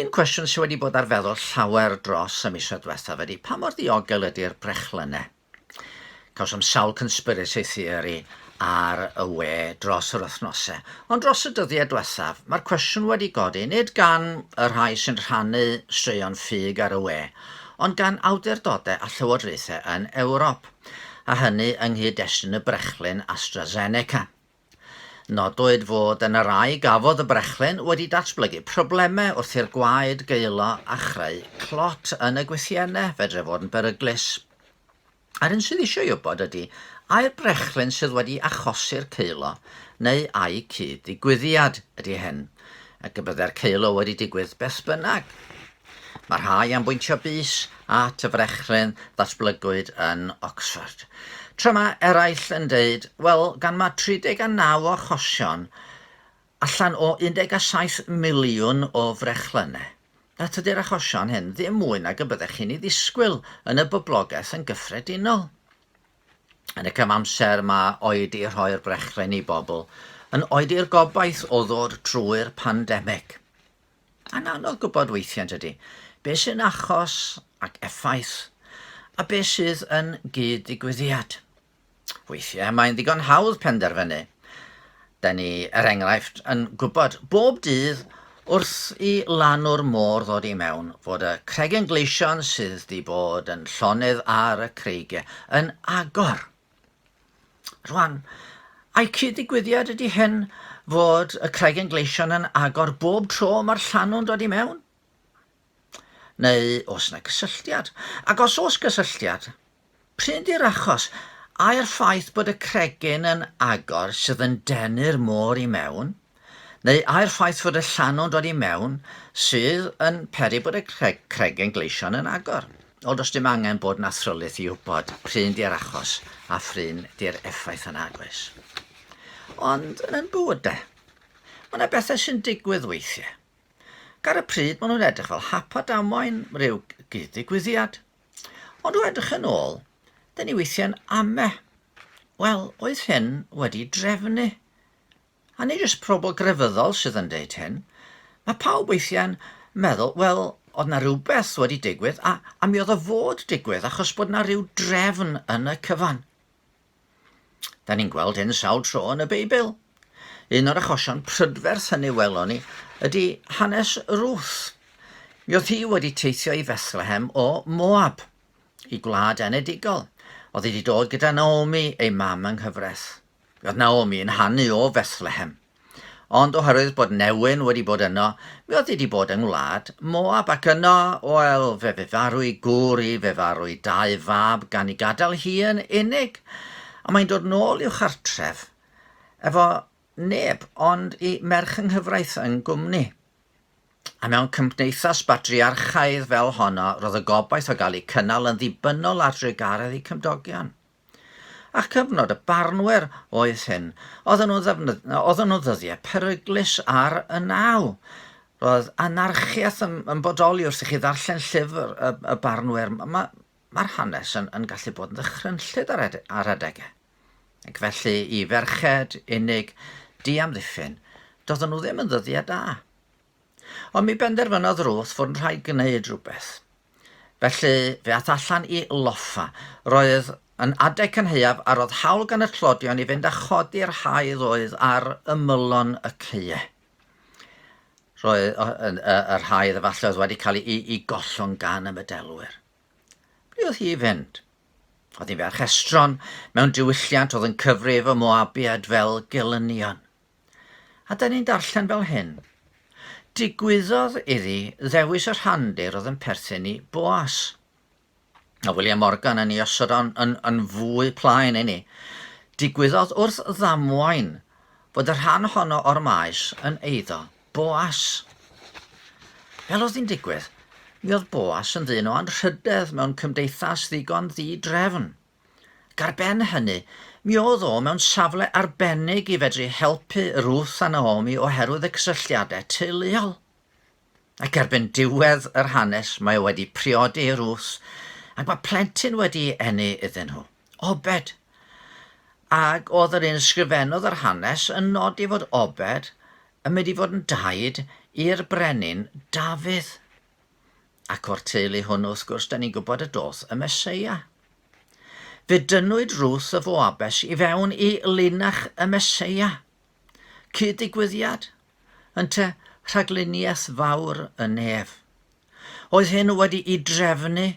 Un cwestiwn sydd wedi bod ar feddwl llawer dros y misoedd diwethaf ydy pa mor ddiogel ydy'r brechlynnau? Cawsom sawl conspiracy theory ar y we dros yr wythnosau, ond dros y dyddiau diwethaf mae'r cwestiwn wedi godi nid gan y rhai sy'n rhannu straeon ffug ar y we, ond gan awdurdodau a llywodraethau yn Ewrop, a hynny yng nghyd-destun y brechlyn AstraZeneca. Nodwyd fod yna rai gafodd y brechlyn wedi datblygu problemau wrth i'r gwaed gaelo a chreu clot yn y gwythiennau, fedrai fod yn beryglus. A'r un sydd eisiau wybod ydy, ai'r brechlyn sydd wedi achosi'r caelo, neu ai cyd-ddigwyddiad ydy hyn, ac y byddai'r caelo wedi digwydd beth bynnag. Mae rhai am bwyntio bys at y frechlyn ddatblygwyd yn Oxford, tra mae eraill yn deud, wel, gan mae 39 o achosion allan o 17 miliwn o frechlynnau, a tydi'r achosion hyn ddim mwy nag y byddech chi'n ei ddisgwyl yn y boblogaeth yn gyffredinol. Yn y cyfamser mae oedi rhoi'r brechlyn i bobl yn oedi'r gobaith o ddod trwy'r pandemig. Mae'n anodd gwybod weithiau, yn dydy, beth sy'n achos ac effaith a beth sydd yn gyd-ddigwyddiad. Weithiau mae'n ddigon hawdd penderfynu. Da ni, er enghraifft, yn gwybod bob dydd wrth i lanw'r môr ddod i mewn fod y cregyn gleision sydd di bod yn llonydd ar y creigiau yn agor. Rwan, a'i cyd-ddigwyddiad ydy hyn fod y Cragen Gleision yn agor bob tro mae'r llanw'n dod i mewn? Neu os yna gysylltiad? Ac os oes gysylltiad, pryn di'r achos? Ai'r ffaith bod y cregyn yn agor sydd yn denu'r môr i mewn? neu ai'r ffaith fod y llanw'n dod i mewn sydd yn peri bod y cregyn gleision yn agor? Ond os dim angen bod yn athrylith i wybod pryn di'r achos a phryn di'r effaith yna, oes? Ond yn yn bywyd de, mae yna bethau sy'n digwydd weithiau. Ger y pryd maen nhw'n edrych fel hap a damwain, rhyw gyd-ddigwyddiad. Ond o edrych yn ôl, dyn ni weithiau'n ame. Wel, oedd hyn wedi drefnu? A nid jyst pobl grefyddol sydd yn deud hyn. Mae pawb weithiau'n meddwl, wel, oedd na rhywbeth wedi digwydd a, a mi oedd o fod digwydd achos bod na rhyw drefn yn y cyfan. Da ni'n gweld hyn sawl tro yn y Beibl. Un o'r achosion prydferth hynny welon ni ydy hanes Ruth. Mi oedd hi wedi teithio i Fethlehem o Moab, i gwlad enedigol. Oedd hi wedi dod gyda Naomi, ei mam yng nghyfraith. Roedd Naomi yn hanu o Fethlehem. Ond oherwydd bod newyn wedi bod yno, mi oedd hi wedi bod yng ngwlad Moab, ac yno, wel, fe fe farw i gŵr i, fe farw i dau fab gan i gadael hi yn unig. A mae'n dod nôl i'w chartref efo neb ond i merch yng nghyfraith yn gwmni. A mewn cymdeithas batriarchaidd fel honno, roedd y gobaith o gael ei cynnal yn ddibynnol ar drugaredd ei cymdogion. A'ch cyfnod y barnwyr oedd hyn. Oedden nhw, ddefnydd, oedden nhw ddyddiau peryglus ar y naw. Roedd anarchiaeth yn, yn bodoli wrth i chi ddarllen llyfr y, y barnwyr. Mae'r ma, ma hanes yn, yn gallu bod yn ddychrynllyd ar, ed, ar adegau. Ac felly i ferched unig, di amddiffyn, doedden nhw ddim yn ddyddiau da. Ond mi benderfynodd Ruth fod yn rhaid gwneud rhywbeth. Felly, fe ath allan i loffa. Roedd yn adeg cynhaeaf a roedd hawl gan y tlodion i fynd a chodi'r haidd oedd ar ymylon y caeau. Roedd yr haidd efallai oedd wedi cael ei, ei gollwng gan y medelwyr. Ble oedd hi i fynd? Oedd hi'n ferch estron, mewn diwylliant oedd yn cyfrif y Moabiad fel gelynion. A da ni'n darllen fel hyn, Digwyddodd iddi ddewis y rhandir oedd yn perthyn i Boas. A William Morgan yn ei osod o'n yn, yn fwy plaen i ni. Digwyddodd wrth ddamwain fod y rhan honno o'r maes yn eiddo Boas. Fel oedd hi'n digwydd, mi oedd Boas yn ddyn o anrhydedd mewn cymdeithas ddigon ddi-drefn. ac ar ben hynny, mi oedd o mewn safle arbennig i fedru helpu Ruth a Naomi oherwydd y cysylltiadau teuluol. Ac erbyn diwedd yr hanes mae o wedi priodi i Ruth ac mae plentyn wedi eni iddyn nhw, Obed. Ac oedd yr un ysgrifennodd yr hanes yn nodi fod Obed yn mynd i fod yn daid i'r brenin Dafydd. Ac o'r teulu hwn, wrth gwrs, da ni'n gwybod y doth y Meseia. Fe dynwyd Ruth y Foabes i fewn i linach y Meseia. Cyd-digwyddiad, ynte rhagluniaeth fawr y nef. Oedd hyn wedi'i drefnu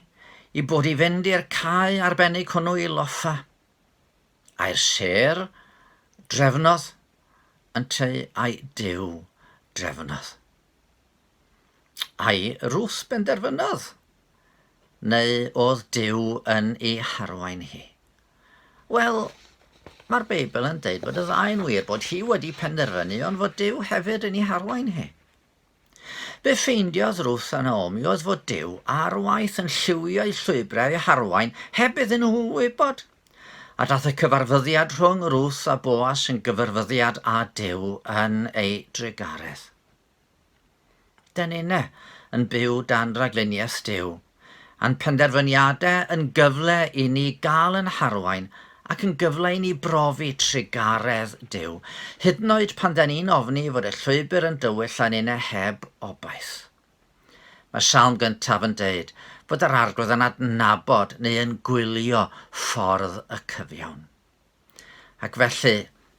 i bod i fynd i'r cae arbennig hwnnw i loffa. A'r ser drefnodd ynteu a'i dew drefnodd. Ai Ruth benderfynodd? Neu oedd Duw yn ei harwain hi? Wel, mae'r Beibl yn deud bod y ddau'n wir, bod hi wedi penderfynu ond fod Duw hefyd yn ei harwain hi. Be ffeindiodd Ruth a Naomi oedd fod Dyw ar waith yn lliwio'u llwybrau eu harwain heb iddyn nhw wybod. A dath y cyfarfyddiad rhwng Ruth a Boas yn gyfarfyddiad a Dyw yn ei drugaredd. Da ninne yn byw dan ragluniaeth Duw, a'n penderfyniadau yn gyfle i ni gael yn harwain ac yn gyfle i ni brofi trugaredd Duw, hyd yn oed pan da ni'n ofni fod y llwybr yn dywyll a ninne heb obaith. Mae salm gyntaf yn deud fod yr Arglwydd yn adnabod neu yn gwylio ffordd y cyfiawn. Ac felly,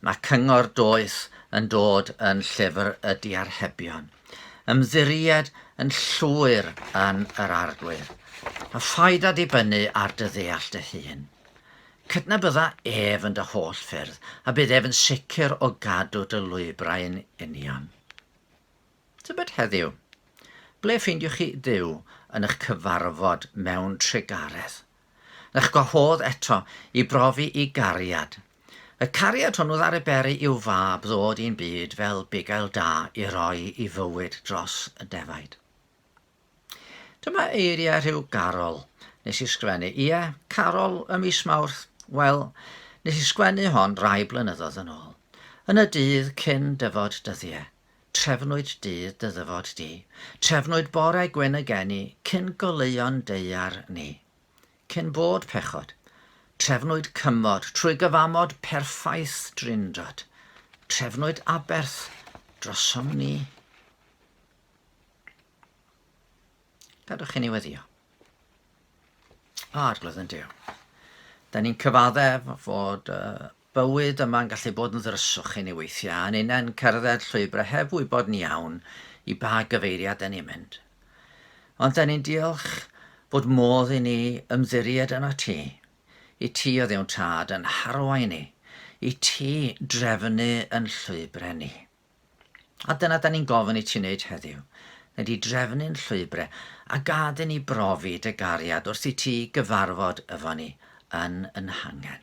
mae cyngor doeth yn dod yn llyfr y diarhebion, ymddiried yn llwyr yn yr Arglwydd, a phaid â dibynnu ar dy ddeall dy hun. Cydnabydda ef yn dy holl ffyrdd, a bydd ef yn sicr o gadw dy lwybrau'n union. Tybed heddiw, ble ffeindiwch chi Dduw yn eich cyfarfod mewn trugaredd? Ych gwahodd eto i brofi i gariad. Y cariad hwnnw ddaru Berry i'w fab ddod i'n byd fel bugail da i roi i fywyd dros y defaid. Dyma eiriau rhyw garol nes i sgwennu, ie, carol y mis Mawrth, wel, nes i sgwennu hon rai blynyddoedd yn ôl, yn y dydd cyn dyfod dyddiau, Trefnwyd dydd dy ddyfod di. Trefnwyd bore gwyn y geni, Cyn goleuon daear ni. Cyn bod pechod. Trefnwyd cymod, Trwy gyfamod perffaith Drindod. Trefnwyd aberth, Drosom ni. Gadwch chi ni weddio. O, arglwydd yn Duw. Da ni'n cyfadde fod uh, Bywyd yma'n gallu bod yn ddryswch i ni weithiau, yn unen cerdded llwybrau heb wybod yn iawn i ba gyfeiriad 'da ni'n mynd. Ond 'da ni'n diolch bod modd i ni ymddiried yn y Ti, i Ti o Dduw'n Tad yn harwain ni, i Ti drefnu yn llwybrau ni. A dyna 'da ni'n gofyn i Ti wneud heddiw, neu di drefnu'n llwybrau, a gad i ni brofi dy gariad wrth i Ti gyfarfod efo ni yn yn hangen.